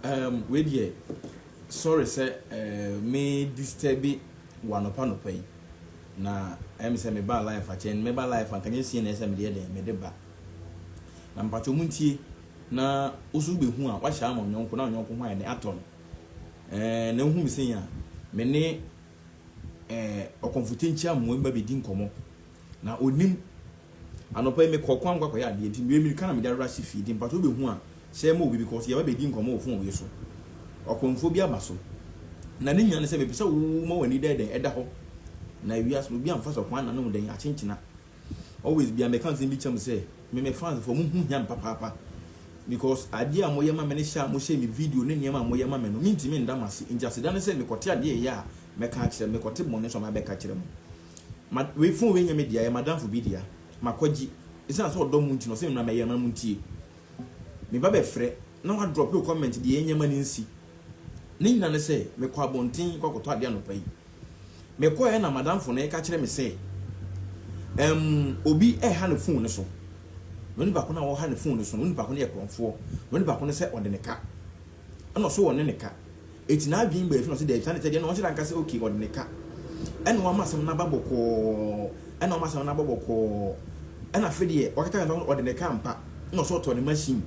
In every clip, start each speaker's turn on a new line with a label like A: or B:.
A: Um, wei deɛ, sorry sɛ uh, me disturb wɔ anɔpa nɔpa yi. Na ɛm sɛ meba life akyɛ, no meba life anka nyɛ sie na ɛsɛ medeɛ dɛn, mede ba. Na mpatwɛ mu ntie, na woso wobɛhu a, wahyɛ ama onyɔnko, na onyɔnko ho ayɛ dɛn atɔ no. Uh, na wohu me sɛ yi a, me ne uh, ɔkɔmfote nkyia mmoa mma bɛdi nkɔmmɔ. Na ɔnim. Anɔpa yi me kɔɔ kwan mu kɔ akɔyɛ adeɛ nti mewei mirika na mede ara si fie nti mpakyɛ wobɛhu a hyɛ yɛ ma obi because yɛba bɛdi nkɔmmɔ wɔ phone wei so. Ɔkɔmfoɔ bi aba so. Na ne nyinaa ne sɛ mepɛ sɛ wo ma w'ani da dɛn ɛda hɔ na ewiase no obi amfa sɛ ɔkwan na ne ho dɛn akyenkyena. Always bia mɛka nsɛm bi kyɛ mo sɛ me me fans foɔ mo ho hia me papaapa because adeɛ a moyɛ ma me ne hyɛ a mo hyɛ me video ne nneɛma a moyɛ ma me no mentumi nda mo ase nti aseda ne sɛ mekɔte adeɛ a ɛyɛ a mɛka akyerɛ mo mekɔte bɔne nso a mɛbɛka akyerɛ mo. Ma wei phone wei nyɛ me dea ɛyɛ madamfo bi dea makɔgye esiane sɛ ɔdɔ mo nti na ɔse me mmra mɛyɛ ma mo ntie me ba bɛfrɛ na wa drop wo comment deɛ ɛnyɛ ma no nsi ne nyina ne sɛ mekɔ abɔnten kɔ akɔtɔ adeɛ anɔpa yi mekɔɛ na madamfo no ɛka kyerɛ me sɛ ɛm obi ɛha ne phone no so na onipa ko no a ɔha ne phone no so no onipa ko no yɛ korɔmfoɔ na onipa ko no sɛ ɔde ne ka ɛna ɔse ɔne ne ka Eti n'adwen bue so na ɔse daabi saa ne sɛ deɛ na ɔnhyɛ da nka sɛ okay ɔde ne ka ɛna wama asɛm no aba bɔkɔɔ ɛna wama asɛm no aba bɔkɔɔ ɛna afe deɛ wakata kata ɔde ne ka ampa ɛna ɔsɛ ɔtɔ ne machine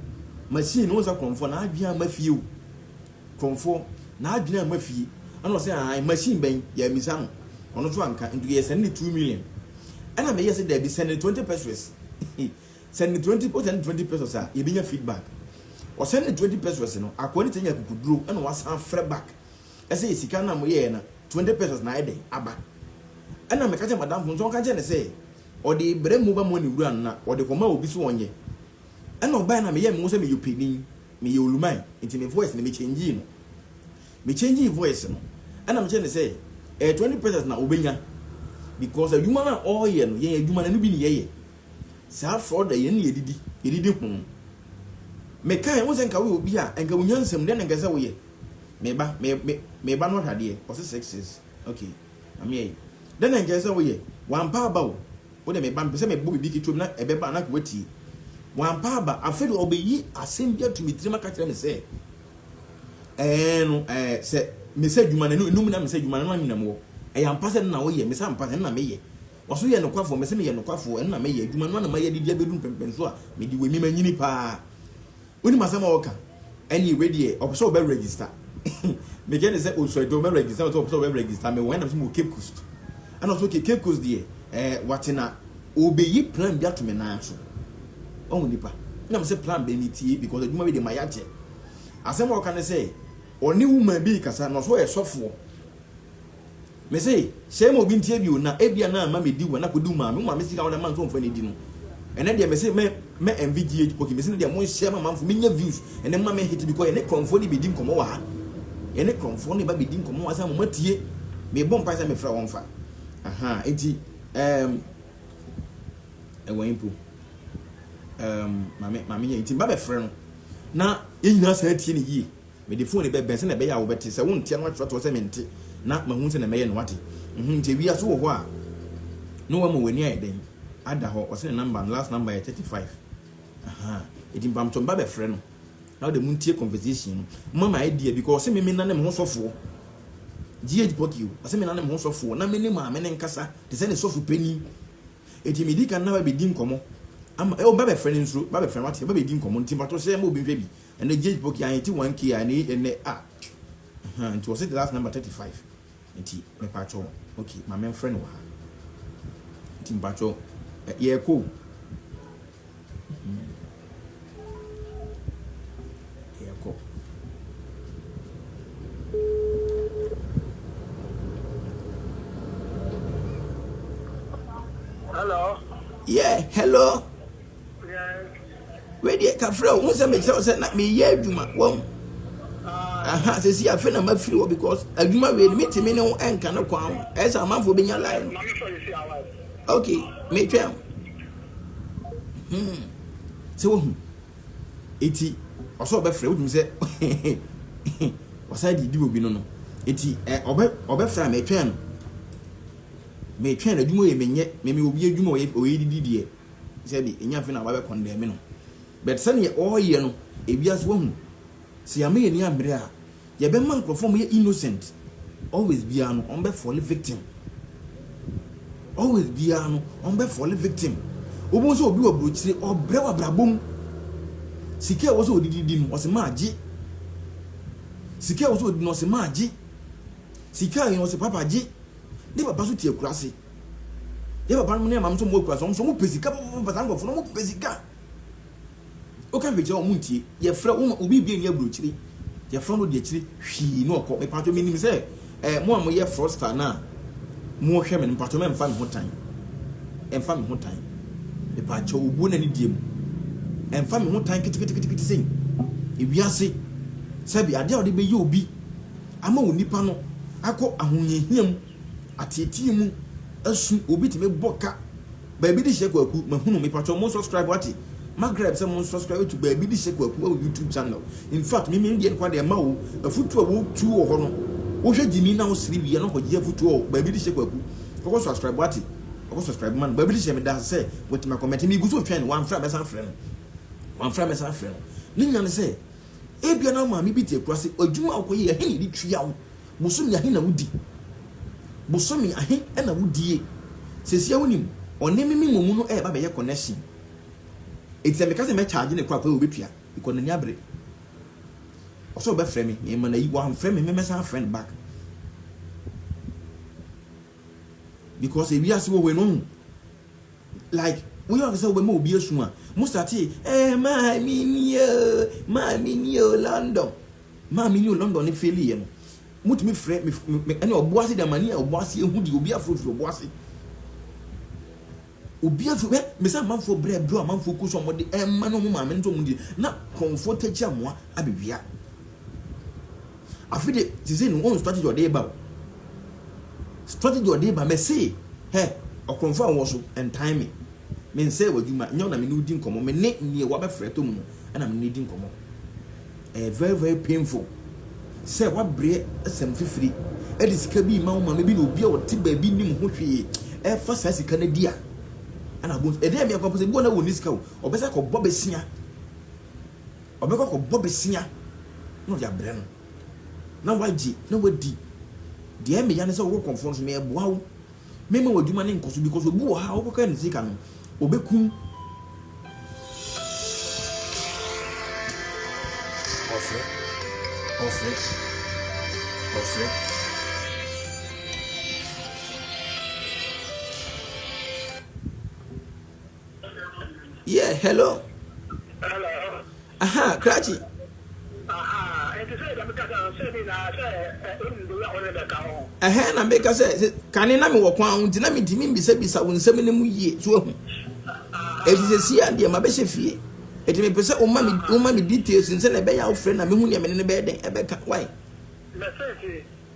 A: machine no wonsa krɔmfoɔ n'adwen ama fie o krɔmfoɔ n'adwen ama fie ɛna ɔsɛ ahan machine bɛn yɛamisa no ɔno nso anka nti yɛsɛne ne two million ɛna meyɛ sɛ daabi sɛne ne twenty pesos Send me twenty o send me twenty pesos a yɛbɛnya feedback. Ɔsend ne twenty pesos no, akoa no tumi nya akukuduro na wasan frɛ back sɛ yɛ sika no a moyɛɛ no twenty pesos na ayɛ dɛn aba. Ɛna meka kyerɛ madamfo nso ɔnka nkyerɛ no sɛ ɔde brɛ mobile money wura no na ɔde kɔma obi so ɔnyɛ. Ɛna ɔbaeɛ na meyɛɛ me ho sɛ meyɛ ɔpanin, meyɛ oluman nti me voice no me changee no. Me changee voice no ɛna mekyerɛ no sɛ ɛyɛ twenty pesos na ɔbɛnya because adwuma no a ɔreyɛ no yɛn adwuma no ɛno bi ne yɛyɛ. Saa frɔ da yɛn na yɛdidi, yɛdidi ho. Mekae, wo sɛ nka woyɛ obi a, nka wonya nsɛm, dɛn na nka sɛ woyɛ? Me ba, me, me, me ba no ahwɛ adeɛ, ɔse six six, ok, mame yɛi. Dɛn na nka sɛ woyɛ? Wampa aba o, wo deɛ me ba, mepɛ sɛ mebɔ biribi ketewa bi na ɛbɛba a na nka woatie. Wampa aba, afei deɛ ɔbɛyi asɛm bi ato me tirim aka kyerɛ me sɛ, ɛɛ no, ɛɛ, sɛ mesɛ adwuma no, ɛno mu na mesɛ adwuma no, ɛno na me na mewɔ. Ɛyɛ ampa sɛ ɛno na woyɛ? Mese ampa, ɛno na meyɛ. Ɔso yɛ nokwafoɔ, mese meyɛ nokwafoɔ, ɛno na mɛyɛ, adwuma no ara na mayɛ de de abɛdu mpɛmpɛnsoɔ a mede wɔ mi manyini paa. Wonim asɛm a ɔreka? Ɛneɛ wei deɛ ɔpɛ sɛ ɔbɛ register Mekae ne sɛ osua adwuma, ɔbɛ register na ɔsɛ ɔpɛ sɛ ɔbɛ register me wɔ hɛn na mesɛ mewɔ Cape Coast ɛna ɔsɛ okay Cape Coast deɛ ɛɛ wate na ɔbɛyi plan bi ato me nan so ɔho nipa na mesɛ plan bɛn metie because adwuma wei deɛ mayɛ akyɛ asɛm a ɔka ne sɛ ɔne woman bi rekasa na ɔsɛ ɔyɛ sɔfoɔ Me se, sɛ ema obi ntie bio na ebia na ama medi wɔ na kodi wo maame, wo maame sika a wode ama nso ɔmfa nidi no, ɛnɛ deɛ me se mɛ mɛ envy GH Poki, me se no deɛ monhyɛ ma manfo menya views, ɛnɛ mma me hit bi kɔ, yɛne krɔnfoɔ ne bedi nkɔmɔ wɔ ha, yɛne krɔnfoɔ ne ba bedi nkɔmɔ wɔ ha sɛ moma tie, mebɔ mpae sɛ mefrɛ wɔn fa, ahaa, enti ehm ɛwɔ he mpo, ehm ma me ma me yɛ, enti meba bɛfrɛ no na yɛn nyinaa san tie no yie. Mede fooni bɛbɛn sɛnea ɛbɛyɛ a wobɛte. Sɛ wonte a na woatwerɛ toɔ sɛ mente na mahu sɛnea mɛyɛ na woate. Mhu nti awia so wɔ hɔ a na wama w'ani ayɛ dɛn ada hɔ. Ɔse ne number no last number yɛ thirty five ahaa enti mpamokyɛ mba bɛfrɛ no na wode montie conversation no. Moma me idea bi kɔ ɔse me menane me ho sɔfoɔ GH Pocky o ɔse menane me ho sɔfoɔ na mene maame no nkasa te sɛ ne sɔfo panin enti medi kan na bɛdi nkɔmmɔ ama oh mba bɛfrɛ no nsuro mba bɛfrɛ no woate mba bɛdi nkɔmmɔ nti mpakyɛw hyɛ ma obi nhwɛ bi. Ɛnɛ gye po kia yɛte one kia ɛnɛ yi ɛnɛ ah ɛhɛn nti wɔse the last number thirty five nti mepakyɛ wo okay maame mfrɛ no wɔ ha nti mepakyɛ wo ɛ yɛrekɔ o yɛrekɔ
B: Hello. yeah hello. Wei
A: deɛ ka frɛ wo sɛ mekyerɛ wo sɛ na meyɛ adwuma wɔn aha sɛsi afe na mafiri hɔ because adwuma wei no metumi ne wo ɛnka no kwan ho ɛsɛ amanfoɔ bɛnya line no ok metwɛn hmm. sɛ wohu ɛti ɔsɛ ɔbɛfrɛ wotum sɛ ɔsan didi obi no no ɛti ɔbɛfrɛ a metwɛn no metwɛn no adwuma yɛ menyɛ meme obi adwuma ɔyɛ didi deɛ Sɛbi enya afei na wabɛ kɔndɛme no but sɛdeɛ ɔɔyɛ no ebia so wahu sɛ yama yɛn ani ambre a yɛbɛ ma nkorɔfoɔ ɔmo yɛ innocent always biaa no ɔmo bɛ fɔle victim always biaa no ɔmo bɛ fɔle victim wobɛhu sɛ obi wɔ brokyire ɔbrɛ wɔ abrabɔ mu sika ɛwɔ sɛ odidi di no ɔse maa gye sika ɛwɔ sɛ odidi no ɔse maa gye sika yɛn ɔse papa gye ne papa so te akura ase. Yɛ papa nom ne maame nso ɔmo akura so ɔmo so ɔmo pɛ sika papa saa nkorɔfo no ɔmo pɛ sika. Woka hwɛ kyerɛ ɔmo ntie yɛfrɛ wo ma obi ebie ni aburokyire yɛfrɛ no de akyire hwii na ɔkɔ mepatwɔ menim sɛ ɛɛ mo a moyɛ frosta no a mohwɛ me no mepatwɔ mɛ mfa me ho tan ɛmfa me ho tan mepatwɔ obuo na ne die mu ɛmfa me ho tan keteketekete sɛn ewiase sɛbi adeɛ a wɔde bɛyɛ obi ama wo nipa no akɔ ahohiahia mu Ateetee mu asu obi tumi bɔ ka baabi de hyɛ kwaku mahunu me patwɔ mo subscribe wate magrab sɛ mo subscribe to baabi de hyɛ kwaku ɛwɔ youtube channel in fact me me deɛ nkwa deɛ ma wo afutuo a wotu wɔ hɔ no wohwɛ gyimi na wosere wie na kɔgye afutuo wɔ baabi de hyɛ kwaku kɔkɔ subscribe wate kɔkɔ subscribe ma no baabi de hyɛ me da sɛ watumi akɔmɛte me gu so twɛn wamfrɛ a mɛsan frɛ no wamfrɛ a mɛsan frɛ no ne nya ne sɛ ebia na maame bi te akura se adwuma a wokɔyɛ ɛhe ne de tua wo Bosome ahe na wodi? Bosome ahe na wodie? Sesia wonim ɔne me me momu no ɛɛba bɛyɛ connection enti sɛ meka sɛ mɛ charge no kɔ a kɔ a obetua because n'ani abere ɔsɛ ɔbɛfrɛ me me ma no ayi wamfrɛ me me mɛsan afrɛ no back because ewiase wɔ hɔ no ɔhu like woyɛ ɔkɛ sɛ wobɛma obi asu a mo starte ɛɛ maa me nie maa me nie London Maa me new London no faili yɛ no, mo tumi frɛ me me ɛne ɔbo ase dɛ ma ni a ɔbo ase ehu di obi afro firi ɔbo ase. Obi afro hɛ me sɛ amanfoɔ brɛ ɛbrɛ amanfoɔ kɔ so a wɔde ɛma no ɔmo maame no nso ɔmo di na kɔnfoɔ tɛ kyi amoa abɛ wia. Afi de sisi no wɔn strategy ɔde ba o. Strategy ɔde ba mɛ se hɛ ɔkɔnfoɔ a wɔ so ɛntan me me nsɛ wɔ adwuma nyɛ ɔna me ne odi nkɔmɔ me ne neɛ wabɛ frɛ to mu no ɛna me ne di nkɔmɔ. Ɛyɛ very very painful sɛ wabrɛ asɛm fifiri ɛde sika bi ma wo maame bi na obi a ɔte baabi nim ho hwee ɛfa saa sika no di a ɛna abo ɛdɛ mmea kɔ pɛsɛ bi wɔ na wɔ ni sika o ɔbɛsɛ kɔ bɔ besia ɔbɛkɔ kɔ bɔ besia na ɔde abrɛ no na wagye na wadi deɛ mmea no sɛ wɔkɔ kɔnfɔ no so mɛ ɛboa wo Mɛma w'adwuma no nkɔso because obi wɔ ha a wokɔka ne sika no, ɔbɛkum. Ɔfrɛ. Ɔfrɛ. Ɔfrɛ. Yeah, hello. Hello. Aha, Kratchy. Aha, nti sɛ ɛdɛm kasa no sɛ bi na sɛ ɛnum de yɛ ɔne bɛka ho. Ɛhɛn na meka sɛ kane na mewɔ kwan ho nti na metumi mbisabisa wo nsɛm no mu yie so ahu. Ɛti sɛ si a deɛ mabɛhyɛ fie. Ɛti mepɛ sɛ woma me woma me details nsɛ na ɛbɛyɛ a wofrɛ na mehu deɛ mene no bɛyɛ dɛn ɛbɛka. Why? Mɛsɛ ti.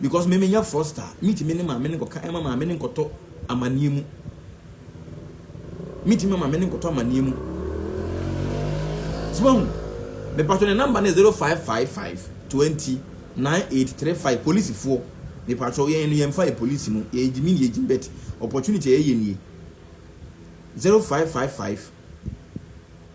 A: Because me menyɛ froster a metumi ne maame no nkɔka ɛma maame no nkɔtɔ amaneɛ mu metumi ma maame no nkɔtɔ amaneɛ mu so wahu mepatwɔ ne number no 0555 20 9835 polisifoɔ mepatwɔ yɛn no yɛmfa yɛ polisi mu yɛyɛ gyimi ne yɛgyim bet opportunity a yɛyɛ nie 0555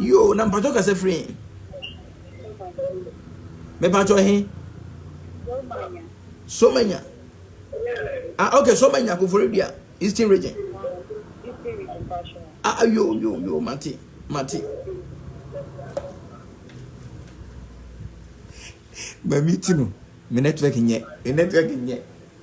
A: Yoo na mpakyɛw kasa firi he? Mepakyɛw he? Somanya. Ah okay Somanya Koforidua Eastern region. Ah, ah yoo yoo yoo mate mate. Mami ti no me network nyɛ me network nyɛ.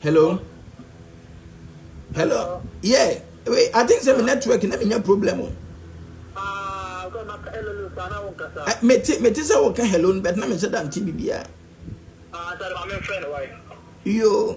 A: Hello? Hello? Yeah, wait, I think sɛ me network na menya problem o. Mete mete sɛ woka hello no but na menhyɛ da nte biribiaa.
B: Yo.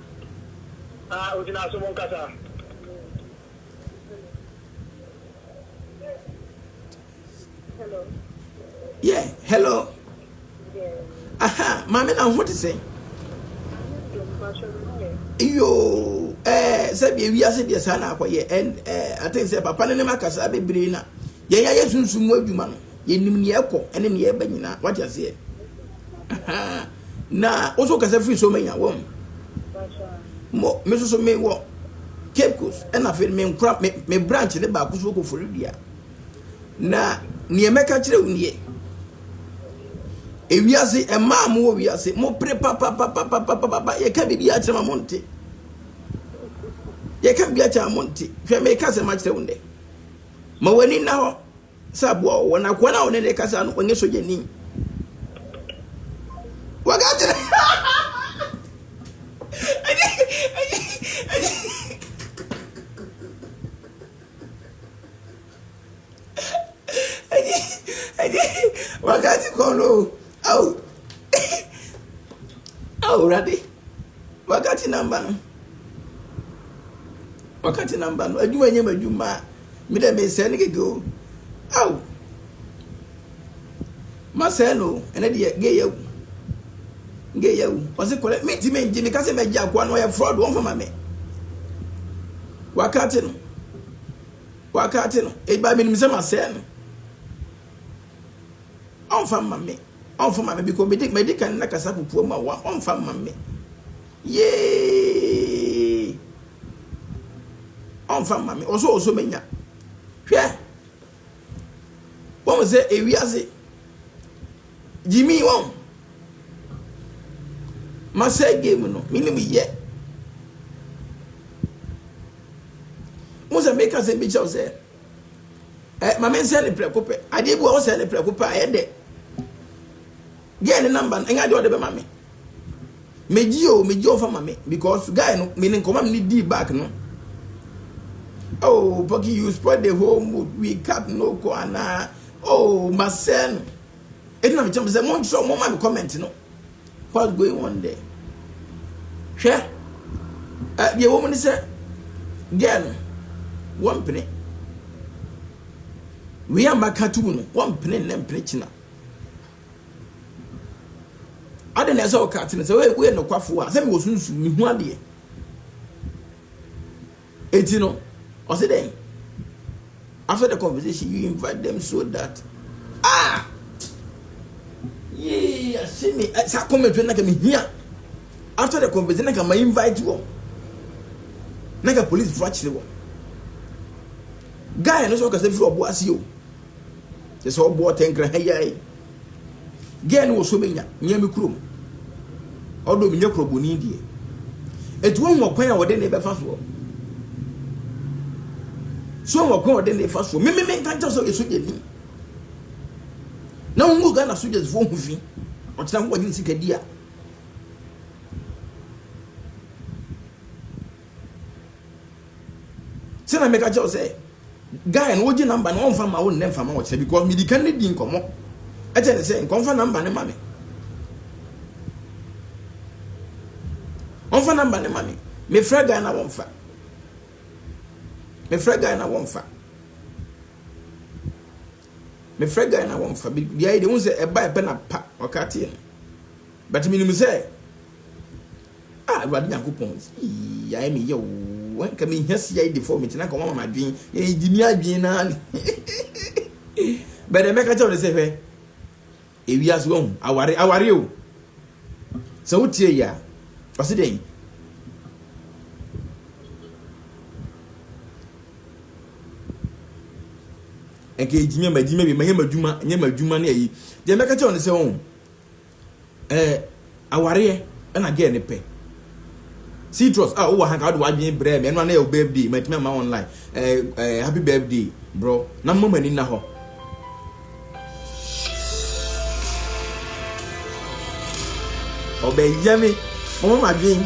B: A ogyina so monkasa. Hello.
A: Yeah, hello.
B: Yeah. Aha, maame
A: na ho te sɛn? Yoo, ɛɛ sɛ bi ewi ase deɛ saa na akɔyɛ ɛn ɛɛ ate sɛ papa ne ne ma kasa bebree na yɛn yɛ yɛ sunsun mu adwuma no Yɛnim nea ɛkɔ ne nea ɛba nyinaa. Wate aseɛ? Ahaa. Na wo nso wokasa firi Somanya, wɔn. Mo, me nso so mewɔ Cape Coast, ɛna afei me nkora, me, me branch ne baako so wokɔ Florida. Na nea mɛka kyerɛ wo nie, ewiase, mmaa mo wɔ wiase, mo pere papapapapapapa, yɛka biribi akyerɛ ma mo nte. Yɛka biribi akyerɛ ma mo nte. Hwɛ, meka sɛ makyerɛ wo nnɛ. Ma w'ani nna hɔ. Sɛ aboa wo wɔ n'akoa no a ɔne no rekasa no, ɔnyɛ sogyani. Wɔka kyerɛ. Wakati kɔn no, ao, awurade. Wakati namba no Wakati namba no adwuma nyɛ m'adwuma a me dɛ mesɛe no kɛkɛ o ao masɛe no o ɛnɛ deɛ gay yɛ awu gay yɛ awu ɔse kɔlɛ mentimi ngye meka sɛ mɛgye akoa no ɔyɛ fraud ɔmfa ma me wakati no wakati no ɛba menim sɛ masɛe no ɔmfa ma me Ɔnfa ma me biko medi medi kan na kasa pupua mu a wa ɔnfa mma me yeeeeeee ɔnfa mma me ɔsɔ ɔsɔ me nya hwɛ wɔn sɛ ewiase gyimi wɔn ma sɛ game no me ne mu yɛ wɔn sɛ meka sɛ bi kyɛw sɛ. Ɛ ma mensɛ ne prɛko pɛ. Adeɛ bi wɔ wosɛ ne prɛko pɛ a ɛyɛ dɛ. Gɛɛ ne namba no ɛnyɛ adeɛ ɔde bɛma me. Megye o megye ɔfa ma me because guy no me ne nkɔmɔ me ne dii back no. Oh Poki you spoil the whole mood we cut no kɔ anaa oh masɛ no. Ɛti na mekyerɛ mo sɛ monkyerɛ mo ma me comment no. What's going on there? Hwɛ, ɛ deɛ ɛwɔ mu ne sɛ girl no wɔmpene. Wei a maka to mu no wɔmpene nnɛ mpene kyena. Ade na ɛsɛ ɔka ate no sɛ woyɛ nokwafoɔ a sɛ mewɔ sunsum mehu adeɛ. Enti no, ɔse dɛn? After the conversation, you invite them so that ah yee ase me eh, saa comment no na ka mehia after the conversation na ka ma invite wɔn na ka police fo akyere wɔn guy no sɛ ɔkasa firi ɔbo ase o sɛ sɛ ɔbo ɔtɛnkra ha yi Girl no wɔsɔ menya nyɛ me kurom. Ɔdɔ me nyɛ kurɔboni deɛ. Eti wɔn wɔkwan a wɔde ne bɛfa soɔ. So wɔn wɔkwan a wɔde ne fa soɔ. Meme me nka nkyɛn sɛ ɔyɛ sogya ni. Na wɔn wɔ Ghana sogyas foɔ ho fi. Ɔkyerɛ ho wɔgye ne sika di a. Sɛ na meka kyɛw sɛ guy no ogye number no ɔmfa ma wo nnɛ mfa ma wo kyerɛ because midi kan ne di nkɔmɔ ɛkyɛ ne sɛ nkɔmfa number ne ma me ɔmfa number ne ma me mefrɛ guy na wɔmfa mefrɛ guy na wɔmfa mefrɛ guy na wɔmfa bia yi de hu sɛ ɛba ɛpɛ na pa ɔka teɛ no but menim sɛ Ah Awurade Nyankopɔn eii ayɛ me yaw oo anka menhia CID fɔ mete na anka wɔama m'adwen eh gye me adwen naa ne bɛdɛ mɛka kyɛw ne sɛ hwɛ ewia so wahu aware aware o sɛ wotie yɛ a ɔse dɛn ɛnka ɛgyimia magyimia bi manyɛ madwuma nyɛ madwuma ne ayi deɛ mɛka kyɛw ne sɛ wɔn Eh, awareɛ na girl no pɛ. Citrus, ah, wowɔ ha nka wode w'adwene brɛɛ me, ɛno a na yɛ wo birthday, mantumi amma online. Eh, eh, happy birthday, bro, na mma m'ani nna hɔ. Ɔbɛyɛ me, mama m'adwene.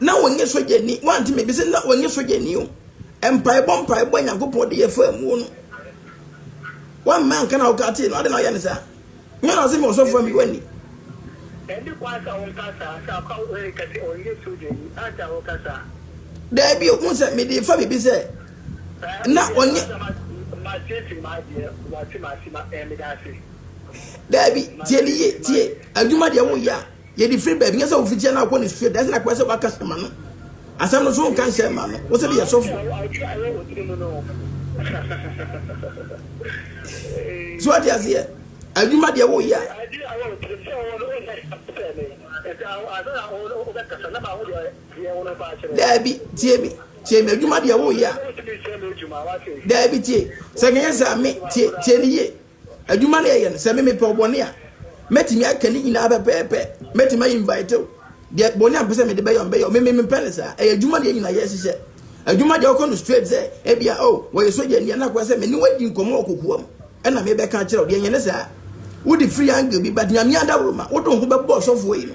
A: Na ɔnyɛ sogyani, woante me? Mese na ɔnyɛ sogyani o. Mpaebɔ mpaebɔ a Nyankopɔn de yɛ faa muo no, wammɛ anka na wokaa tee no, adɛn na woyɛ no saa? Nyɛ na ɔse me ɔsɔfoɔ ammi w'ani? Ɛnni
B: kwan sɛ wonka saa, sɛ akwa wo reka sɛ ɔnyɛ sogyani, adɛn na woka saa? Daabi
A: o, wohu sɛ mede refa biribi sɛ na ɔnyɛ. Masiesie
B: m'adeɛ, woate m'asɛm a, ɛɛ, medaase. Daabi,
A: tie no yie, tie, adwuma deɛ woyɛ a. Yɛde firi baabi nyɛ sɛ wofi kyɛ no akɔ ne sua dɛsɛ na kɔɛ sɛ waka sɛ ma no asɛm no so nka nhyɛ ma no wo sɛ de yɛ sɔfo so ate aseɛ adwuma deɛ wo yɛ daabi tie me tie me adwuma deɛ wo yɛ daabi tie sɛ kɛnyɛ sɛ me tie tie ne yie Adwuma no yɛyɛ no, sɛ me mepɛ ɔbɔne a, mɛtumi aka ne nyinaa pɛpɛɛpɛ, mɛtumi a invite wo, deɛ bɔne a mpɛ sɛ mede bɛyɛ mbɛyɛ, me mempɛ no saa, ɛyɛ adwuma deɛ nyina yɛhyehyɛ, adwuma deɛ wokɔ no straight sɛ, ebia oh wɔyɛ sogyani a na akoa sɛ me ne wo adi nkɔmmɔ wɔ kokoa mu, ɛna mebɛka akyerɛ wo, deɛ nyɛ ne saa, wode free angle bi, but Nyame adaworoma, wode wo ho bɛbɔ ɔsɔfoɔ yi no.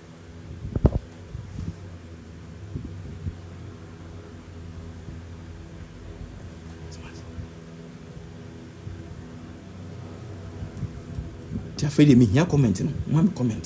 A: nti afei deɛ mehia comment no moma me comment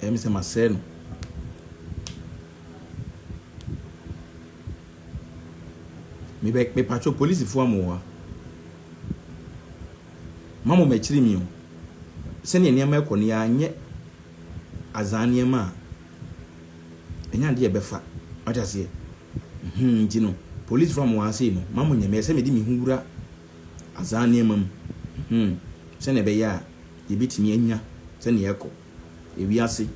A: Ɛyɛ me sɛ masɛe no. Mebɛ mepatwo polisifoɔ a mo wɔ ha. Ma mo m'akyiri mi o. Sɛdeɛ nneɛma rekɔ no yɛanyɛ azaa nneɛma a ɛnyɛ adeɛ a ɛbɛfa. Wate aseɛ? Hmm, nti no, polisifoɔ a mo wɔ ha sei no, ma mo nyɛ. Meyɛ sɛ mede me ho wura Azaa nneɛma mu, hmm, sɛnea ɛbɛyɛ a yebetumi anya sɛnea ɛkɔ wiase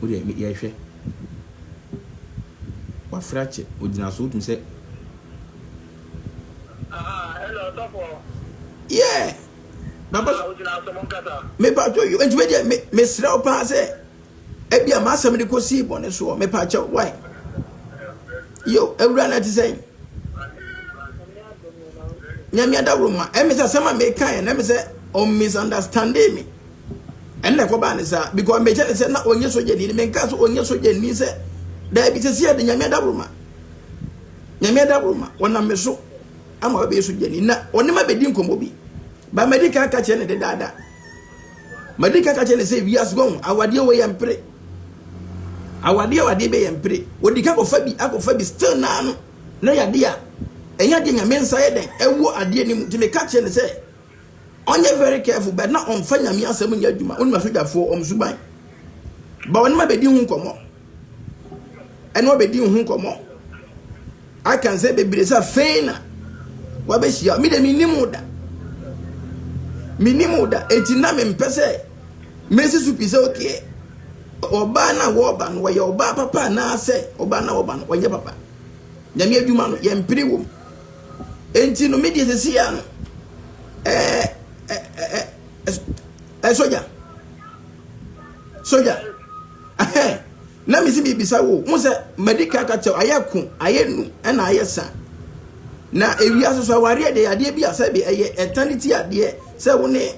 A: Wo deɛ me yɛhwɛ. Wafrɛ akyɛ, ogyina so, wotumi sɛ.
B: Ah, hello, sɔfo.
A: Yeah. Baba. Ah, ogyina so, mo
B: nkasa. Me ba jo yo, enti me
A: deɛ me me srɛ wo paa sɛ. Ebia m'asɛm de kosii bɔne soɔ, mepa kyɛw, wai. Yo, awura no ɛte sɛn? Nyame adaworo ma, ɛmi sɛ asɛm a meka yɛ, na ɛmi sɛ ɔn misunderstanding me. Ɛnna ɛkɔbaa ne saa, because mekyɛ ne sɛ na ɔnyɛ sogyani, menka sɛ ɔnyɛ sogyani sɛ, daabi sɛ sɛ ɛde Nyame adaworo ma. Nyame adaworo ma, ɔnam me so ama wabɛyɛ sogyani, na ɔne ma bɛdi nkɔmmɔ bi. Ba madi kan ka kyerɛ ne dedaada. Madi ka ka kyerɛ ne sɛ wiase wɔn awadeɛ wɔ yɛ mpere awadeɛ awadeɛ bɛ yɛ mpere wɔdi ka kɔfa bi akɔfa bi still naa no na yadeɛ a ɛnyɛ adeɛ nyame nsa yɛ dɛn ɛwɔ adeɛ no mu nti meka kyerɛ ne sɛ ɔnyɛ very careful bɛ na ɔmfa nyame asɛm nyɛ adwuma wonim asogyafoɔ ɔm suban ba ɔne ma bɛdi ho nkɔmmɔ ɛne wo bɛdi ho nkɔmmɔ aka nsɛ bebree sɛ afei na wabɛhyia me deɛ menim wo da menim wo da ɛti na mempɛ sɛ mɛsi so pi sɛ okeɛ ɔbaa no a wɔba no wɔyɛ ɔbaa papa anaasɛ ɔbaa no a wɔba no wɔnyɛ papa nyame adwuma no yɛmpere wɔ mu ɛnti no medeɛ sɛsi a no ɛɛ ɛɛ ɛɛ sogya sogya Ɛhɛ, na mese mebisa wo, wo sɛ madi ka ka kyɛw, ayɛ ko, ayɛ nu, ɛna ayɛ sa. Na ewia soso awareɛ deɛ yadeɛ bi a sɛbi ɛyɛ eternity adeɛ sɛ wo ne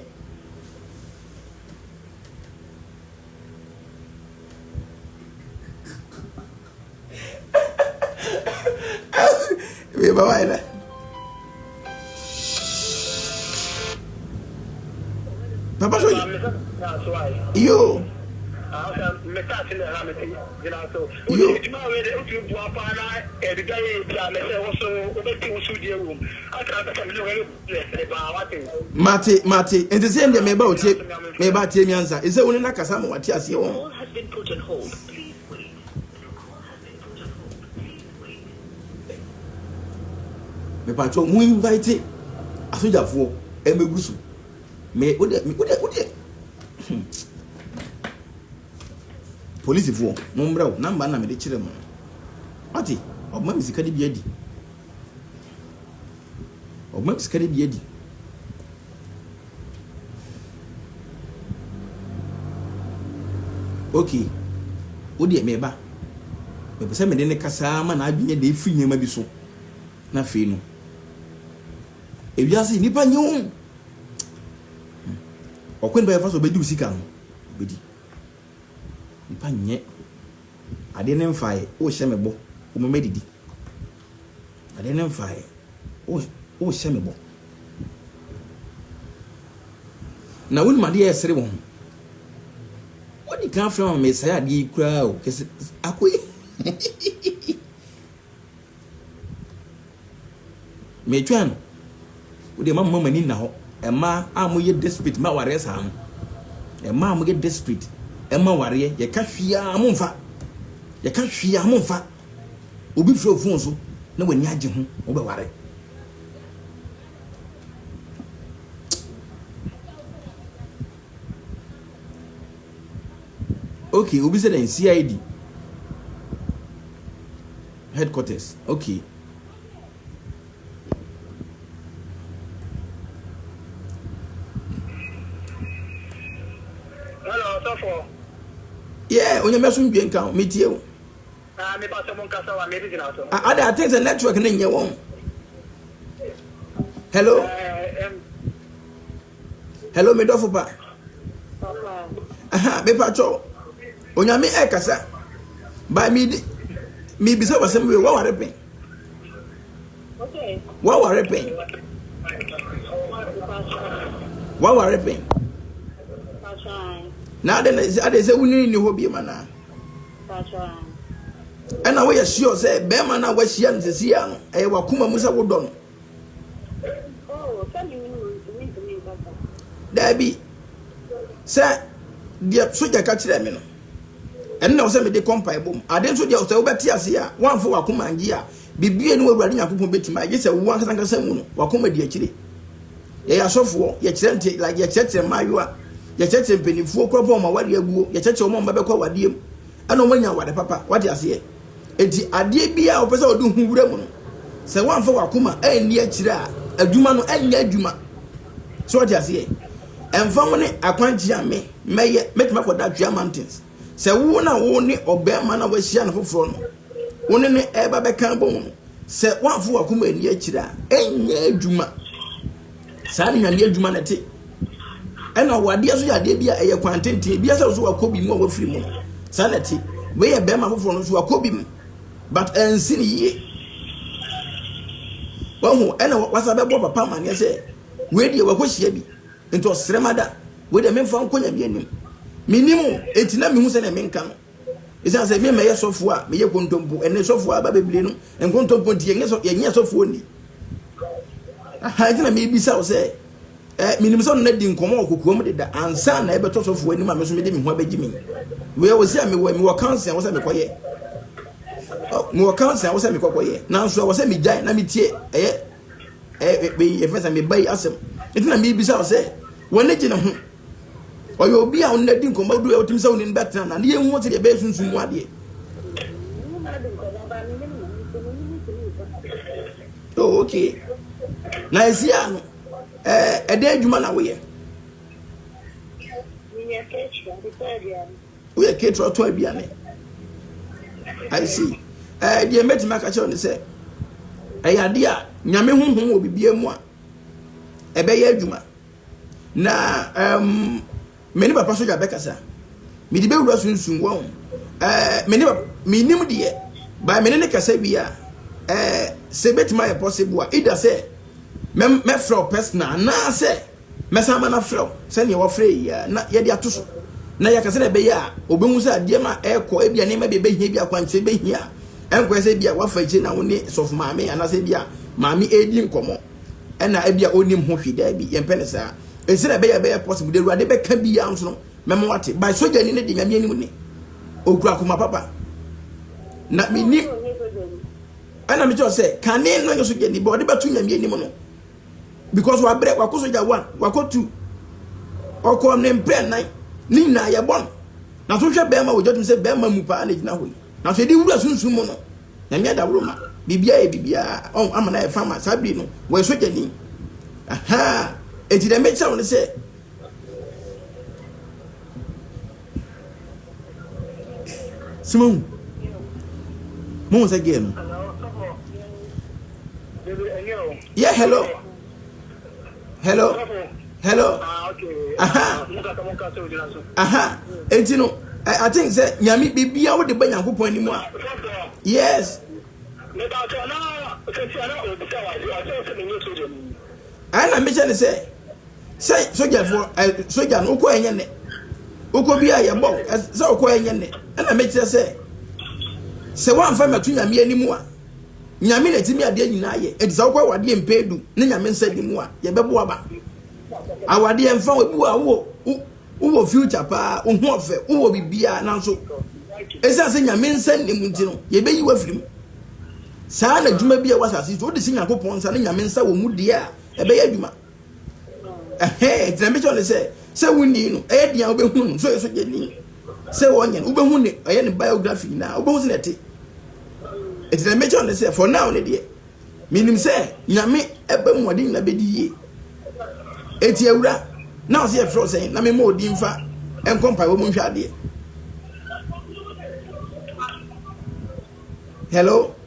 A: Wei ba wayɛ dɛ. Papa sɔ yi. Yo. Yo. Mate mate nti sɛ ndeɛ meba otie meba tie mi ansa ɛsɛ wo ne no akasa ma wate aseɛ wɔn
C: Mepakyɛw mo invite
A: asogyafoɔ ɛmɛgu so me wo deɛ me wo deɛ wo deɛ hmm. polisifoɔ mo mbrɛ wo namba na mede kyerɛ mo wate ɔbɛma me sika de bi adi ɔbɛma me sika de bi adi. Ok, wo deɛ meba. Mepɛ sɛ mede no kasa ara ma n'adwene dan firi nneɛma bi so, na afei no, ewiase yi nnipa nye o. Ɔkwan bi a yɛfa so bɛdi wo sika no, bɛdi. Nnipa nyɛ adeɛ no mfaeɛ, wohyɛ me bɔ, woma madidi. Ade no mfaeɛ. Wo wohyɛ me bɔ. Na wonim adeɛ a ɛsere wo ho. Wodi kan frɛ ma mesɛe adeɛ yi koraa o. Kɛse ako yi. Metwɛn no. Wode ma mma m'ani nna hɔ. Mmaa a moyɛ desperate ma awareɛ saa no. Mmaa a moyɛ desperate ɛma awareɛ yɛka hwee a momfa. Yɛka hwee a momfa. Obi frɛ wo fon so na w'ani agye ho, wobɛware. Okay, obi sɛ dɛn CID headquarters. Okay. Hello,
B: Safo. Yeah,
A: onyame asomdwe nka, metie wo.
B: Ah me pastor mo nkasa wa me bi gyina so. Ah ada
A: I think sɛ network ne nyɛ wɔn. Hello. Hello me dɔfo pa. Aha me patro. Onyame ɛkasa. By me di me bisa wasɛm wie waware pɛn.
B: Waware pɛn.
A: Waware pɛn. Na ade na ade sɛ wunini ni hɔ bi ma naa. Ɛna woyɛ sure sɛ bɛrima no a woahyia no sɛsi yɛ ano ɛyɛ wakoma mu sɛ wodɔ no. Daabi sɛ deɛ sogya ka kyerɛ me no ɛno na ɔsɛ mede kɔ mpae bom ade nso deɛ ɔsɛ wobɛte ase a woamfa wakoma ngye a bibie ne wawurade nyankopɔn bɛtumi agye sɛ wo ankasa nkasa mu no wakoma di akyire. Yɛyɛ asɔfoɔ, yɛkyerɛ nte, like yɛkyerɛkyerɛ mmaayewa, yɛkyerɛkyerɛ mpanimfoɔ kora bɔ wɔn awadeɛ aguo, yɛkyerɛkyerɛ wɔn a wɔbɛkɔ awadeɛ mu, ɛna wɔn anya awade papa, wate aseɛ. Eti adeɛ bi a wɔpɛ sɛ wɔde ho wura mu no, sɛ wɔamfa wakoma anni akyire a, adwuma no ɛnyɛ adwuma. So wate aseɛ. Ɛmfa ho ne akwankyerɛ a me mɛyɛ, mɛtumi akɔda Twea Mountains. Sɛ wo na wo ne ɔbarima no a wahyia no foforɔ no, wo ne no ɛreba bɛka bɔ mu no, sɛ woamfo w'akoma ani akyiri a, ɛnyɛ adwuma. Saa ne Nyame adwuma no te. Ɛna ɔwadeɛ nso yɛ adeɛ bi a ɛyɛ kwan tenten, ebi asɛ so wakɔ bi mu a wafiri mu no. Saa na ɛte. Wei yɛ barima foforɔ no so wakɔ bi mu, but ansi ne yie. Wahu, ɛna wasa bɛbɔ papa amaneɛ sɛ, wei deɛ wakɔhyia bi. Enti ɔsrɛ ma da wei deɛ memfa nkɔ nyame anim menim o enti na mehu sɛdeɛ menka no ɛsiane sɛ me mɛyɛ sɔfoɔ a meyɛ kontompo ɛnɛ sɔfoɔ aba bebree no nkontompo nti yɛnyɛ sɔfoɔ ni aha ɛnti na mebisa wo sɛ eh, menim sɛ ɔno na di nkɔmmɔ wɔ kokoam deda ansa na ɛbɛtɔ sɔfoɔ anim a me so mede me ho abɛgye me meyɛ wɔ sɛ a mewɔ mewɔ kanse a wɔ sɛ mekɔyɛ mewɔ kanse a wɔ sɛ mekɔkɔyɛ nanso a wɔ sɛ megyae na metie ɛyɛ ɛɛ yɛfɛ sɛ meba yi asɛm nti na mebisa wo sɛ wɔne gye ne ho ɔyɛ obi a wɔn adi nkɔmɔ du a wotumi sɛ wɔn ani bɛtena na ne yɛ nhu sɛdeɛ ɛbɛyɛ sunsun mu adeɛ. oh okay na esi a no ɛɛ ɛdɛ adwuma na woyɛ. Woyɛ ketewa tɔ aduane. I see. Ɛɛ deɛ mɛtumi aka kyerɛ ne sɛ ɛyɛ adeɛ a nyame honhom wɔ biribiara mu a ɛbɛyɛ adwuma na ɛɛm me ne papa sogya bɛkasa mede bɛwura sunsun wɔn ɛɛ me ne papa menim deɛ by me ne ne kasa wie a ɛɛ sɛ bɛtumi ayɛ possible a ida sɛ mɛfrɛ wo personal anaasɛ Mɛsan ama no afrɛ wo sɛnea wafrɛ yi ara, na yɛde ato so, na yɛaka sɛnea ɛbɛyɛ a obehu sɛ adeɛ no a ɛrekɔ, ebia nneɛma bi a ebehia bi, akwankyerɛ behia a ɛnkɔyɛ sɛ ebia wafa akyire na wo ne sɔfo maame anaasɛ ebia maame redi nkɔmmɔ na ebia onnim ho hwee. Daabi, yɛmpɛ no saa. Enti sɛnea ɛbɛyɛ a ɛbɛyɛ possible, deɛ Awurade bɛka biara nso no, mɛma wate. By sogyani no de Nyame anim ni. Okura koma papa. Na mennim, ɛna mekyerɛ wo sɛ, kane no nyɛ sogyani, but ɔde bɛto Nyame anim no. because wabrɛ wakɔ sogya one wakɔ two ɔkɔ ne mpɛ nan ne nyinaa yɛbɔ no na so hwɛ bɛrima wɔ gya tum sɛ bɛrima mu paa na gyina hɔ yi na so yɛde wura sunsum mu no nyame adaworo ma biribiara yɛ biribiara ɔn ama na yɛ fa ma saa biri no wɔyɛ sogyani aha eti dɛm bɛkyerɛ wo no sɛ sɛ mahu mohu sɛ gɛɛ no yɛ hello hello hello aha aha enti no i think sɛ nyame biribiaa wode ba nyankopɔn anim a yes ɛna mehyɛ ne sɛ Sɛ sogyafoɔ ɛ eh, sogya no wokɔ ɛnyɛ nɛ wokɔ bi a yɛbɔ wo eh, sɛ wokɔ ɛnyɛ nɛ ɛna mekyerɛ sɛ sɛ woamfa mato nyame anim a nyame na ɛtumi adeɛ nyinaa yɛ ɛti sɛ wokɔ awadeɛ mpɛ du ne nyame nsa di mu a yɛbɛbo aba awadeɛ mfa ebi wɔ a wowɔ wowɔ future paa wohu ɔfɛ wowɔ biribiaa nanso ɛsiane sɛ nyame nsa nne mu nti no yɛbɛyi wafiri mu saa na adwuma bi a ɛwɔ asase so wode si nyankopɔn nsa ne nyame nsa wɔ mu deɛ a ɛbɛyɛ adwuma ɛhɛn gyina bɛkyɛ ne sɛ sɛ wonni no ɛyɛ deɛ wobɛhu no sɛ yɛsɛ gyani sɛ wɔnyɛ no wobɛhu ne ɔyɛ ne biography nyinaa wobɛhu sɛ na ɛte ɛgyina bɛkyɛ ne sɛ for now ne deɛ menim sɛ nyame ɛbɛ mu ade nyina bɛdi yie ɛti awura na ɔsɛ yɛfrɛ sɛn na mema ɔdi mfa ɛnkɔ mpaebɔ mu nhwɛ adeɛ hello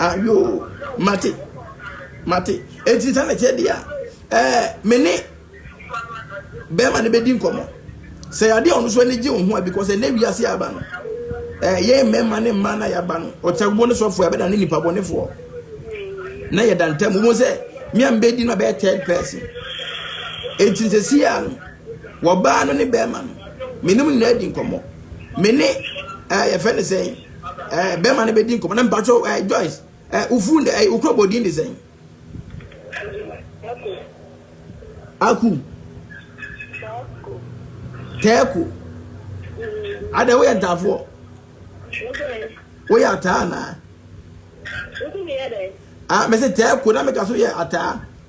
A: Ah, yoo, mate, mate. Enti sɛ na ɛteɛ deɛ a, ɛɛ, me ne bɛrima no bɛdi nkɔmmɔ. Sɛ yadeɛ a ɔno nso ani gye wo ho a, because ɛnɛ wiase a aba no, ɛɛ, yɛn mmarima ne mmaa no a yɛaba no, ɔkyɛwbo ne sɔfoɔ a yɛbɛda ne nipa bɔnefoɔ. Na yɛda ntam, wobɛhu sɛ, me a mbɛdi no abɛyɛ third person. Enti sɛ si a no, wɔbaa no ne bɛrima no, me ne mo nyinaa di nkɔmmɔ. me ne ɛɛ yɛfɛ ne sɛn ɛɛ bɛrima no bɛdi nkɔmɔ na mpatsɔ ɛɛ joyce ɛɛ ofu ɛɛ eh, okura bɔ din de sɛn. aku tɛɛko ada woyɛ ntaafoɔ woyɛ ataa anaa a mese tɛɛko na meka so yɛ ataa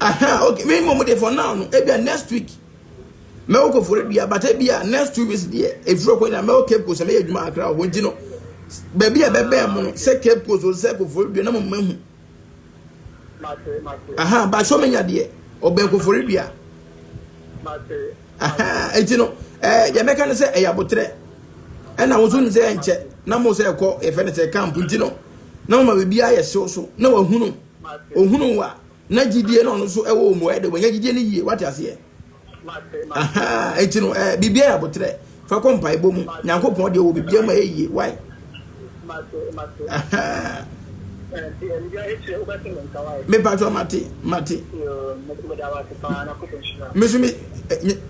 A: Aha okay me mom dey for now no ebia next week mɛwɔ kɔfɔre dua but ebia next two weeks deɛ efiri ɔkɔ nyinaa mɛwɔ cape coast mɛyɛ adwuma akra ɔhɔ nti no baabi a bɛbɛn mo no sɛ cape coast o sɛ kɔfɔre dua na mo mma hu aha baasɛ ɔmɛnya deɛ ɔbɛn kɔfɔre dua. Enti no, ɛɛ deɛ mɛka ne sɛ ɛyɛ aboterɛ. Ɛna wo nso nim sɛ ɛnkyɛ na mo sɛ ɛkɔ yɛfɛ ne sɛ camp nti no na wɔma biribiara yɛ hyew so na wahunu ohunu wa na gyidie na ɔno nso ɛwɔ wɔn mu ɛde wɔnyɛ gyidie no yie wate aseɛ. Aha enti no ɛɛ biribiara yɛ aboterɛ. Fa kɔ mpaebɔ mu. Nyankopɔn deɛ ɔwɔ biribiara mu a ɛyɛ yie. Why? Ahaa. Me patro mate, mate. Me so me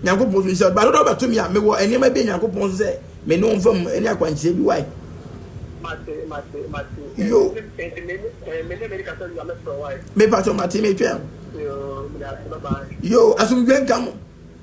A: Nyankopɔn so nhyira. Ba dodo ba to me a me wɔ nneɛma bi Nyankopɔn so sɛ me no mfa mu ne akwankyerɛ bi why? Yo. Me patro mate me twɛn. Yo, asomdwe nka mo.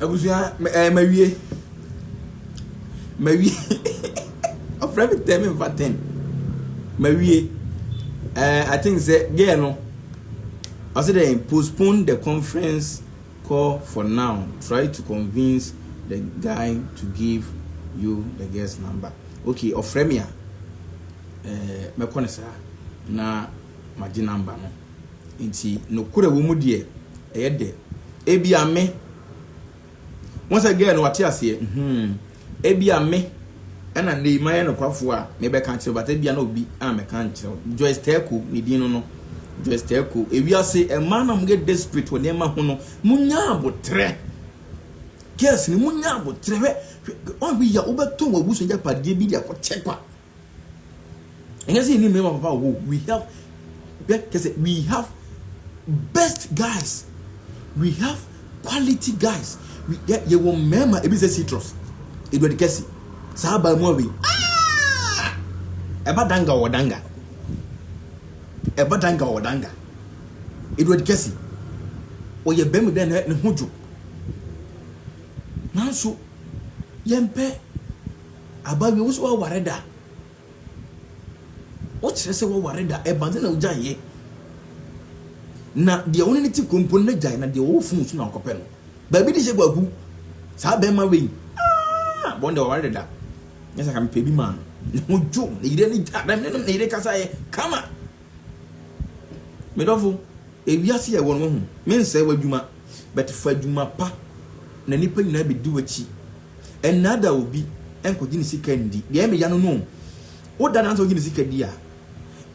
A: Abusua ɛɛ mawie mawie ɔfrɛ me tɛm nfa tɛm mawie ɛɛ eh, I think sɛ girl no ɔsɛ dɛ postpone the conference call for now try to convince the guy to give you the girl's number okay ɔfrɛ me a ɛɛ eh, mɛkɔ ne saa na magye number no. Enti nokorɛ a ɛwɔ mu deɛ ɛyɛ dɛ. Ebia me. Wohu sɛ girl no wate aseɛ? Mhmm. Ebia me ɛna nnɛ yi mayɛ nokwafoɔ a mebɛka akyerɛ wo but ebia na obi a mɛka nkyerɛ wo. Joyce Teko ne din no no. Joyce Teko, ewiase mmaa no a wɔyɛ desperate wɔ nneɛma ho no, monnya aboterɛ. Girls no, monnya aboterɛ. Hwɛ, hwɛ, wobɛtɔn w'abusua agyapadeɛ bi de akɔkyɛ kwa. Ɛnyɛ sɛ yɛnni mmarima papa wɔ hɔ o, we have bɛ kyɛ sɛ we have best guys, we have quality guys, we yɛ yɛwɔ mmarima ebi sɛ citrus, eduade kɛse, saa abaa mu awei, ah! ɛba danga wɔ danga, ɛba danga wɔ danga, eduade kɛse, ɔyɛ bɛrima bi a ne ho dwo, nanso yɛmpɛ. Aba wie wo so waware da. Wo kyerɛ sɛ waware da ɛba sɛ na ogyae yɛ. Na deɛ wo ne ne ti kɔ mpo na gyae na deɛ ɔwɔ funu so na ɔkɔpɛ no. Baabi de hyɛ kwaku saa bɛrima wei aa bɔn deɛ waware da. Nyɛ sɛ ka mepɛ bi maa no. Ne ho dwo ne yere ne gya na ne ne yere kasa yɛ kama. Medɔfo ewiase yɛ wɔ no wahu mensɛe w'adwuma but fa adwuma pa na nipa nyinaa bɛdi w'akyi Ɛnnaadaa obi, ɛnkɔgye ne sika nndi. Deɛ ɛyɛ me ya no no o, wo da no ara sɛ wogye ne sika di a,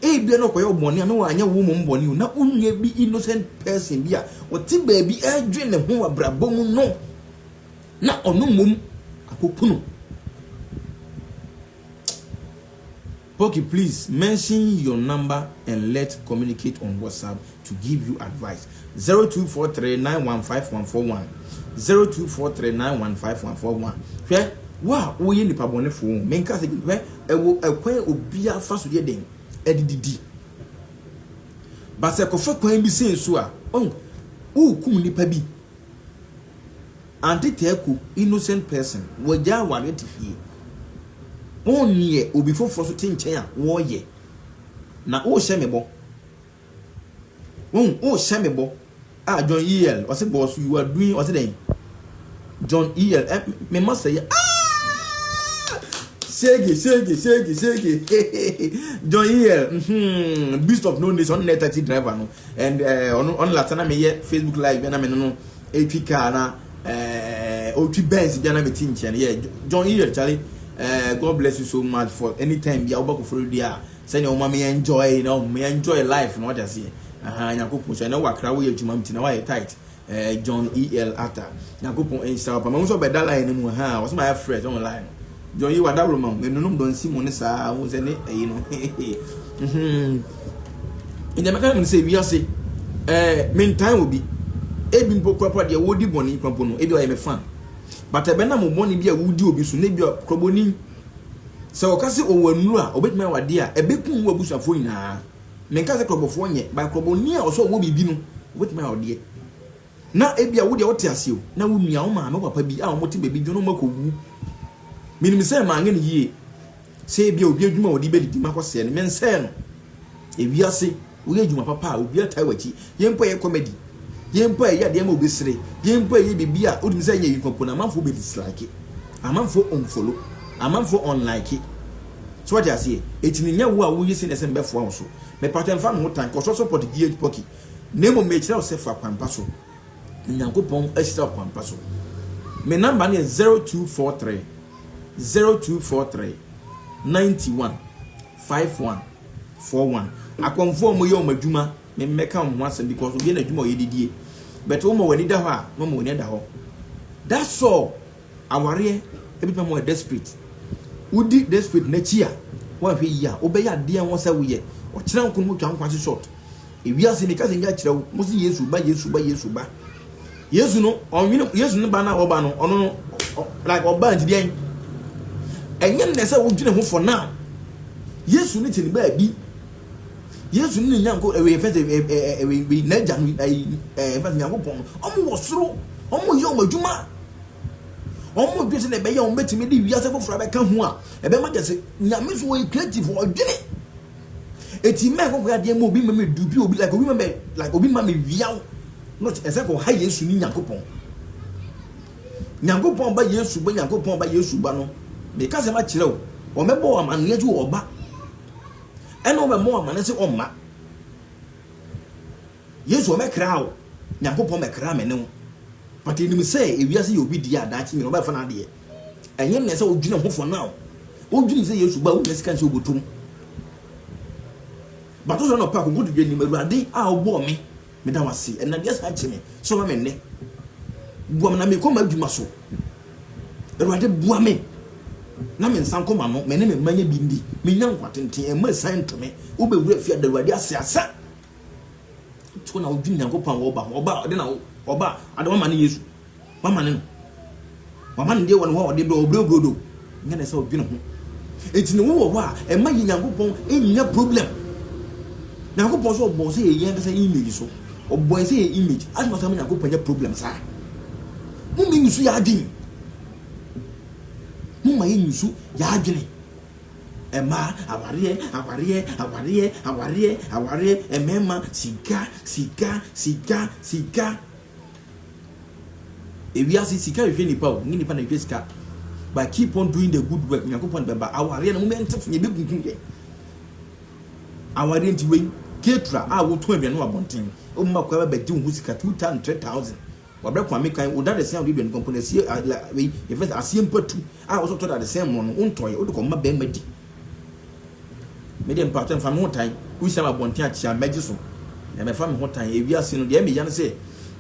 A: ebia na ɔkɔyɛ wo bɔne a na wanyɛ wo mmom bɔne o, na wonua bi innocent person bi a ɔte baabi ɛredwen ne ho wɔ abrabɔ mu no, na ɔno mmom akɔku no. Poki please mention your number and let communicate on WhatsApp to give you advice zero two four three nine one five one four one zero two four three nine one five one four one hwɛ wo a wo yɛ nipa bɔne fo o me nka sɛ bi hwɛ ɛwɔ ɛkwan obia fa so yɛ den ɛde didi but sɛ kɔfa kwan bi sɛ so a oh wo kum nipa bi. Ante Teku innocent person wagya awareɛ te fie on neɛ obi foforɔ nso te nkyɛn a wɔyɛ na wohyɛ me bɔ wohu wohyɛ me bɔ ah John EL ɔse boss you are doing ɔse dɛn John EL eh me ma sɛ yɛ ah sege sege sege sege hehehe John EL hmm beast of no nation ɔne taxi driver no and eh, ɔno ɔno lata na meyɛ facebook live bia na me no no ɛtwi kaa na eh, ɔtwi benz bia na meti nkyɛn yɛ john yiyɛ chale eh, god bless you so much for anytime bia wobɛkɔ foro di a sɛnea woma me enjoy na me enjoy life na wate aseɛ aha nyankopɔn hyɛ na wakra woyɛ adwuma mti na wayɛ tight Eh John EL Atta Nyankopɔn nhyira wo paa mahu sɛ ɔbɛda line no mu ahaa ɔsɛ mayɛ fresh ɔho line no John yi wadaworo ma wo menunom dɔ nsi mu ne saa wohu sɛ ne ayi no nti mɛka no sɛ wiase eh mentan obi ebi mpo kurapa deɛ wɔdi bɔne kura mpo no ebi ɔyɛ me fan but ɛbɛnam wo bɔne bi a wodi obi so na ebi kurabɔni sɛ ɔka sɛ ɔwɔ nnuro a ɔbɛtumi awadeɛ a ɛbɛkum wo abusuafoɔ nyinaa Menka sɛ korɔbɔfoɔ nyɛ, but korɔbɔni a ɔsɛ ɔwɔ biribi no, ɔbɛtumi ayɛ ɔdeɛ. Na ebia wo deɛ wote ase o, na wo nua, wo maame, wo papa bi a wɔte baabi dwono makɔwu. Menim sɛ manyɛ no yie. Sɛ ebia obi adwuma a ɔde bɛdidi makɔsɛe no, mensɛe no. Ewiase, woyɛ adwuma papa a, obiara taa w'akyi. Yei mpo a ɛyɛ comedy, yei mpo a ɛyɛ adeɛ ma obi sere, yei mpo a ɛyɛ biribi a wotumi sɛ nyɛ wei mpo no, amanfoɔ bɛdislike, amanfoɔ unfollow, amanfoɔ unlike. So wate aseɛ? Enti no nyɛ wo a woye sɛdeɛ ɛsɛ no bɛfoa wo so. Mepatɔ mfa me ho tan, kɔ sɔsɔ pɔt die pɔki. Na mmom mekyerɛ wo sɛ fa kwan pa so. Onyankopɔn ahyira wo kwan pa so. Me number no yɛ zero two four three zero two four three ninety one five one four one. Akɔmfoɔ a wɔyɛ wɔn adwuma, me mmɛka wɔn ho asɛm because obiara na adwuma a ɔyɛ de die. But wo ma w'ani da hɔ a, mɛma w'ani ada hɔ. That's all. Awareɛ bi bɛma woayɛ desperate. Wodi desperate no akyi a, woanhwɛ yie a, wobɛyɛ adeɛ a ɛwɔ sɛ woyɛ. Ɔkyena nko no motwa nkwa so short. Ewiase no ɛka sɛ nka kyerɛ wo, mose Yesu ba, Yesu ba, Yesu ba. Yesu no, ɔnwene, Yesu no ba no a wɔba no, ɔno no, like ɔba nti deɛn? Ɛnyɛ nnɛ sɛ wodwene ho for now. Yesu no te ne baabi. Yesu no ne nyanko, ɛwɛ fɛ sɛ, ɛwɛ, n'agya no, ɛfɛ sɛ nyankopɔn no, ɔmo wɔ soro, ɔmo yɛ ɔmo adwuma. wɔdwe sɛ na ɛbɛyɛ wɔn bɛtumi de wiase foforɔ abɛka ho a ɛbɛma kyɛ sɛ nyame so wɔyɛ creative ɔdwene ɛti mɛ kɔkɔ adeɛ ma obi ma me dubi obi like obi ma me like obi ma me wiaw not ɛsɛ kɔ ha yesu ne nyankopɔn nyankopɔn ba yesu ba nyankopɔn ba yesu ba no meka sɛ makyerɛ wo wɔmɛbɔ wɔ amanneɛ gye wɔ ɔba ɛna wɔbɛmmɔ wɔ amanneɛ sɛ ɔmma Yesu ɔbɛkraa wo, Nyankopɔn bɛkraa me ne wo. But yɛnim sɛ ewiase yɛ obi dea, daakye nyina ɔbɛfa n'adeɛ. Ɛnyɛ mmerɛ sɛ wodwene ho for now. Wodwenem sɛ Yesu ba a wonnya sika nsɛ wobɔtɔ mu. But wosɔre anɔpa akonkotodwe anim, Awurade a wobɔɔ me, meda wo ase. Ɛnam wiase akye me, sɛ wama me nnɛ. Boa me na mekɔ m'adwuma so. Awurade boa me na me nsa nkɔ m'ano, me ne me mma nyɛ bi ndi, menya nkwa tenten, mma asiane nto me, wobɛwura fie a da Awurade ase asa. Nti na wodwene Nyankopɔn a wɔba ho. Ɔba ɔde na ɔba ade wama ne Yesu. Wama ne no. Wama ne deɛ wɔ ne hɔ a ɔde brɛ ɔbrɛ brodo. Nyɛ ne sɛ ɔdwene ho. Nti ne wowɔ hɔ a ɛma yɛ Nyankopɔn ɛnya problem. Nyankopɔn so ɔbɔ sɛ yɛ yɛn kasa image so. Ɔbɔ yɛ sɛ yɛ image. Adi na ɔsɛ ma Nyankopɔn nya problem saa. Mo ma yɛ nsu yɛ adwene. Mo ma yɛ nsu yɛ adwene. Mmaa, awareɛ, awareɛ, awareɛ, awareɛ, awareɛ, mmarima, sika, sika, sika, sika. Ewiase sika hwehwɛ nipa o, nye nipa na hwehwɛ sika. But keep on doing the good work. Nyankopɔn bɛba. Awareɛ no mo mɛnte fo, yɛbɛkunkum yɛ. Awareɛ nti wei, ketra a wotu aduane wɔ abɔnten, woma kwa bɛgye wo ho sika 2000, 3000. Wabrɛ koma me kan wo dadesɛn a wode dua nipa mpo no asie a la wei yɛfrɛ no sɛ aseɛ mpatu a wosɛ wotɔ dadesɛn mmorɔ no wontɔeɛ wode kɔma bɛrima di me deɛ mpaatɔ mfa me ho tan wohyia me abɔnten akyea mɛgye so na mɛfa me ho tan ewiase no deɛ meya no sɛ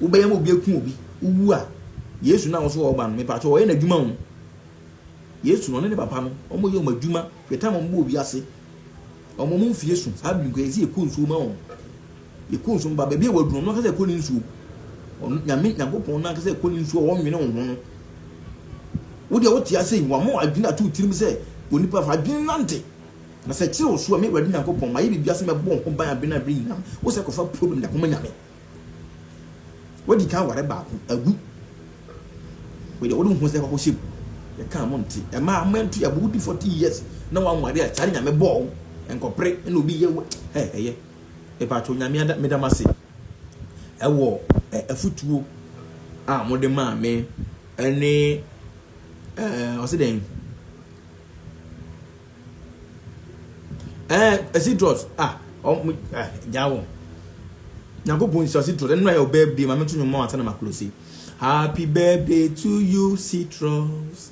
A: wobɛyɛ ma obi aku obi wowu a Yesu na wo so wɔba no mepaatɔ wɔyɛ n'adwuma ho Yesu no ne ne papa no wɔn yɛ wɔn adwuma hwɛ tam wɔn bɔ wiase wɔn wɔn mfie so saa bi nkɔ yɛsi yɛkɔ nsuo ma wɔn Yɛkɔ nsuo mu ba, baabi a wadunu ɔno ankasa ɛkɔ ne nsuo. Ɔno Nyame Nyankopɔn no ankasa ɛkɔ ne nsuo a ɔnwene wo ho no. Wo deɛ wote ase yi, wama adwene ato wo tirim sɛ onipa fa adwene nante. Na sɛ ɛkyere wo so a, me Awurade Nyankopɔn, mayɛ biribiara sɛ mɛbɔ wo ho ban abere ne abere nyinaa. Wo sɛ kɔfa problem de akɔma Nyame. Wadi kan aware baako, agu. Wo deɛ wode wo ho sɛ kɔkɔhyɛ mu. Yɛkaa mo nte. Ɛmaa ama nto yɛ abo, wodi 40 years na wanware a, saa ne Nyame bɔɔ wo. Nkɔpere na obi yɛ wo, hɛ, ɛyɛ. Mpakyɛw Nyame ada meda mo ase ɛwɔ afutuo a mo de maa me ɛne ɛɛ ɔsi dɛn ɛɛ ɛsi drɔs a ɔmo ɛɛ gyaa wɔn nyankopɔn nhyira ɔsi drɔs ɛnura yɛ ɔbɛɛ bi maame to nyɔmɔ ansa na ma kulosi happy birthday to you citrus.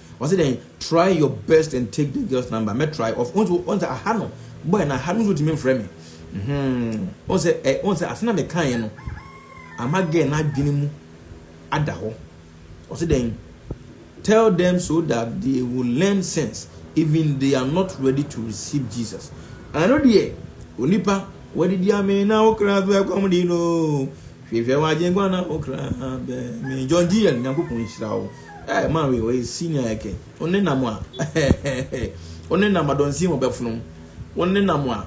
A: Ɔse dɛn try your best and take the girl's number mɛ try of onse onse aha no boy na aha no nso otumi mfrɛ me hmm onse ɛ onse ase na me kaeɛ no ama girl no adwene mu ada hɔ ɔse dɛn tell them so that they will learn sense even they are not ready to receive Jesus ɛno deɛ onipa wadidi amee na wo kra so ɛkɔm di no Hwehwɛ wo agyenkwa na wo kra bɛ me John GN Nyankopɔn nhyira wo eh man wei ɔyɛ senior ɛkɛ wo ne nam a wo ne nam adɔnsin wɔ bɛfono wo ne nam a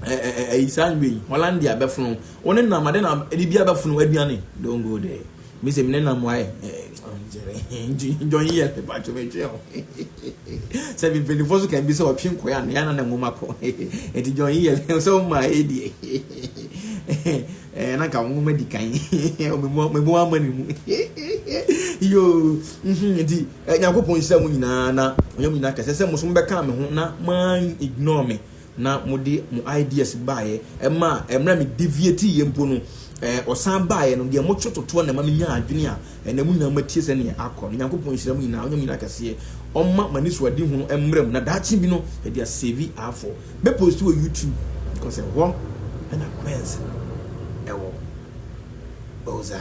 A: ɛyi saa nwe yi Hollandia bɛfono wo ne nam ade na bibia bɛfono aduane don't go there me sɛ me ne nam wae John GN me patwo me twe ho sɛ me mpanyinfoɔ so kan bi sɛ ɔtwe nkɔɛ a na yɛana na nwoma kɔ ɛti John GN sɛ wo maa ɛdie Eh na nka wɔn wɔn adi kan. Meboa meboa ama ne mu. Yoo. Mhm nti eh, Nyankopɔn nhyira mu nyinaa na ɔnyɛ mu nyinaa kɛse sɛ mo so mobɛka me ho na man ignore me na mode mo ideas baeɛ ɛma ɛmmerɛ a me deviate yɛ mpo no eh, ɔsan baeɛ no deɛ motwe totoɔ na ɛma menya adwene a Ɛnna mo nyinaa moatie sɛ nea akɔ no. Nyankopɔn nhyira mo nyinaa, ɔnyɛ mo nyinaa kɛseɛ, ɔmma mo anisoadehu no mmra mu, na daakye bi no yɛde asɛvi afoɔ. Mɛ post wɔ YouTube because ɛhɔ na Quency no ɛwɔ. Ozaa.